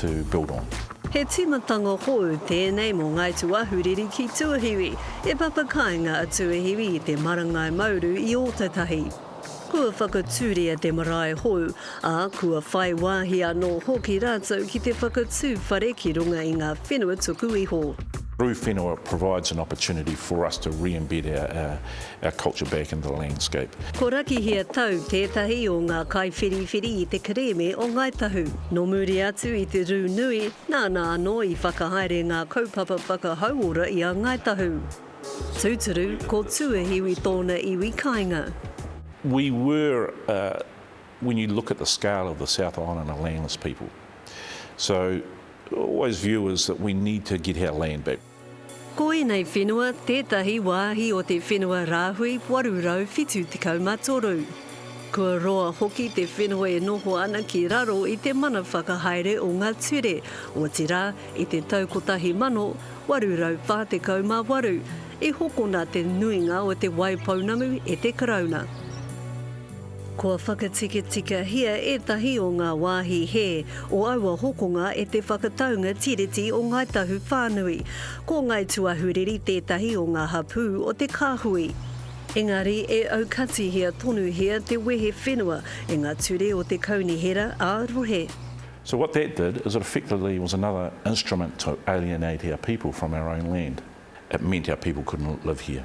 to build on. He tīmatanga hou tēnei mō Ngāi Tūāhuriri ki Tuahiwi, e papa kāinga a Tuahiwi i te marangai mauru i Ōtautahi. Kua whakatūria te marae hou, ā, kua whai wāhi anō hoki rātou ki te whakatū whare ki runga i ngā whenua tuku iho. Rū Whenua provides an opportunity for us to re-embed Our culture back in the landscape. Ko Rakihia Tau tētahi o ngā kaiwhiriwhiri i te kerēme o Ngāi Tahu. Nō muri atu i te rū nui, nāna anō i whakahaere ngā kaupapa whakahauora i a Ngāi Tahu. Tūturu, ko Tuahiwi tōna iwi kāinga. We were, when you look at the scale of the South Island, a landless people. So, always view is that we need to get our land back. Ko ēnei whenua tētahi wāhi o te whenua rāhui 873. Kua roa hoki te whenua e noho ana ki raro i te mana whakahaere o ngā ture, otirā, i te tau 1848 i hokona te nuinga o te wai pounamu e te Karauna. Kua whakatikitikahia ētahi o ngā wāhi hē o aua hokonga e te whakataunga Tiriti o Ngāi Tahu whānui. Ko Ngāi Tuahuriri tētahi o ngā hapū o te kāhui. Engari e aukatihia tonuhia te wehe whenua e ngā ture o te Kaunihera ā-Rohe. So what that did is it effectively was another instrument to alienate our people from our own land. It meant our people couldn't live here.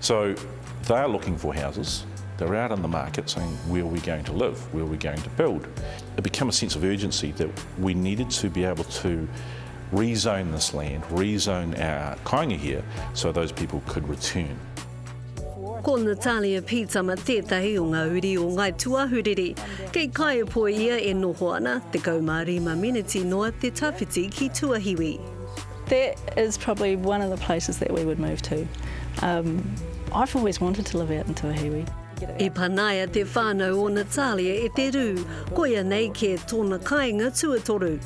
So they are looking for houses, they are out in the market saying where are we going to live, where are we going to build. It became a sense of urgency that we needed to be able to rezone this land, rezone our kainga here so those people could return. Ko Natalia Pietama tētahi o ngā uri o Ngāi Tuahuriri. Kei Kaepo ia e noho ana, 15 miniti noa te tawhiti ki Tuahiwi. That is probably one of the places that we would move to. Um, I've always wanted to live out in Tuahiwi. E panaia te whānau o Natalia e te rū, koia nei kē tōna kāinga tuatoru.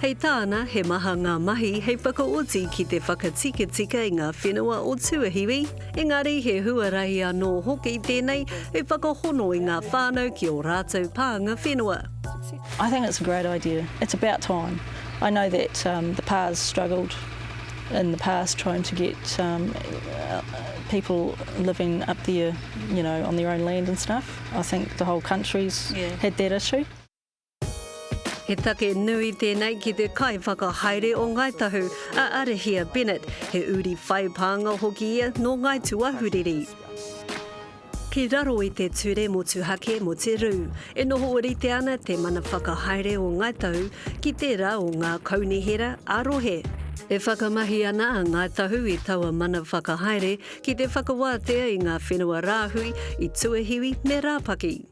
Hei tāna, he maha ngā mahi hei whakaoti ki te whakatikatika i ngā whenua o Tuahiwi, engari he huarahi anō hoki tēnei hei whakahono i ngā whānau ki ō rātou pānga whenua. I think it's a great idea. It's about time. I know that the pa's struggled in the past trying to get people living up there you know on their own land and stuff, I think the whole country's had that issue. He take nui tēnei ki te kaiwhakahaere o Ngāi Tahu, a Arehia Bennett, he uri whai pānga hoki ia nō Ngāi Tūahuriri. Ki raro i te Ture Motuhake mo te Rū, e noho orite ana te mana whakahaere o Ngāi Tahu ki tērā o ngā kaunihera ā-rohe. E whakamahi ana a Ngāi Tahu i taua mana whakahaere ki te whakawātea i ngā whenua rāhui i Tuahiwi me Rāpaki.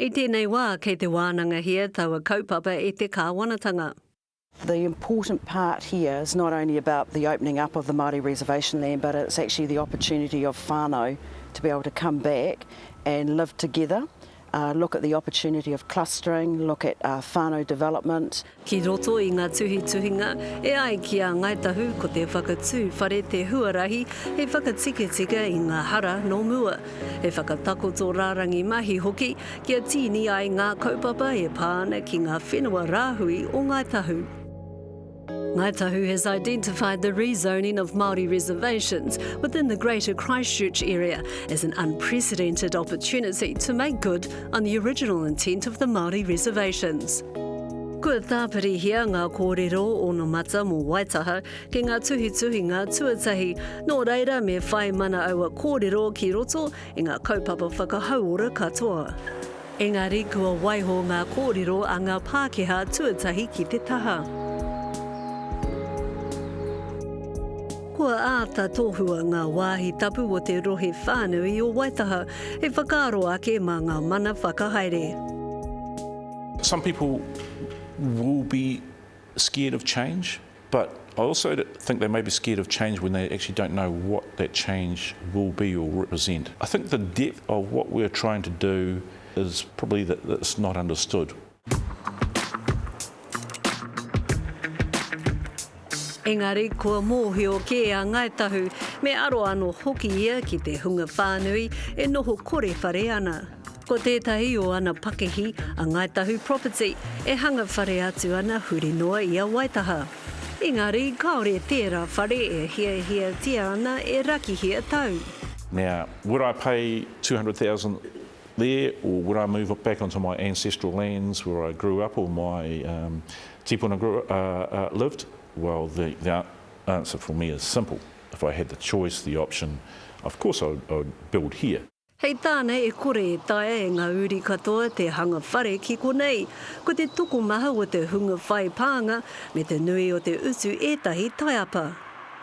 I tēnei wā, kei te wānangahia taua kaupapa e te kāwanatanga. The important part here is not only about the opening up of the Māori reservation land but it's actually the opportunity of whānau to be able to come back and live together, look at the opportunity of clustering, look at whānau development, Ki roto i ngā tuhituhinga, e ai ki a Ngāi Tahu ko te whakatū whare te huarahi hei whakatikatika i ngā hara nō mua, he whakatakoto rārangi mahi hoki kia tīni ai ngā kaupapa e pā ana ki ngā whenua rāhui o Ngāi Tahu. Ngāi Tahu has identified the rezoning of Māori reservations within the Greater Christchurch area as an unprecedented opportunity to make good on the original intent of the Māori reservations. Kua tāpirihia ngā kōrero onomata mō Waitaha ki ngā tuhituhinga tuatahi, nō reira me whai mana aua kōrero ki roto i ngā kaupapa whakahauora katoa. Engari kua waiho ngā kōrero a ngā Pākehā tuatahi ki te taha. Kua āta tohua ngā wāhi tapu o te rohe whānui o Waitaha hei whakaaro ake mā ngā mana whakahaere. Some people will be scared of change but I also think they may be scared of change when they actually don't know what that change will be or represent. I think the depth of what we are trying to do is probably that it's not understood. Engari kua mōhio kē a Ngāi Tahu, me aro anō hoki ia ki te hunga whānui e noho kore whare ana. Ko tētahi o ana pakihi, a Ngāi Tahu Property, e hanga whare atu ana huri noa i a Waitaha. Engari kāore tērā whare e hiahiatia ana e rakihia tau. Nā, would I pay 200,000 there or would I move back onto my ancestral lands where I grew up or my um, tipuna grew, uh, uh, lived? Well, the, the answer for me is simple. If I had the choice, the option, of course I would, I would build here. Hei tāna e kore e taea e ngā uri katoa te hanga whare ki konei. Ko te tokomaha o te hunga whai pānga me te nui o te utu ētahi taiapa.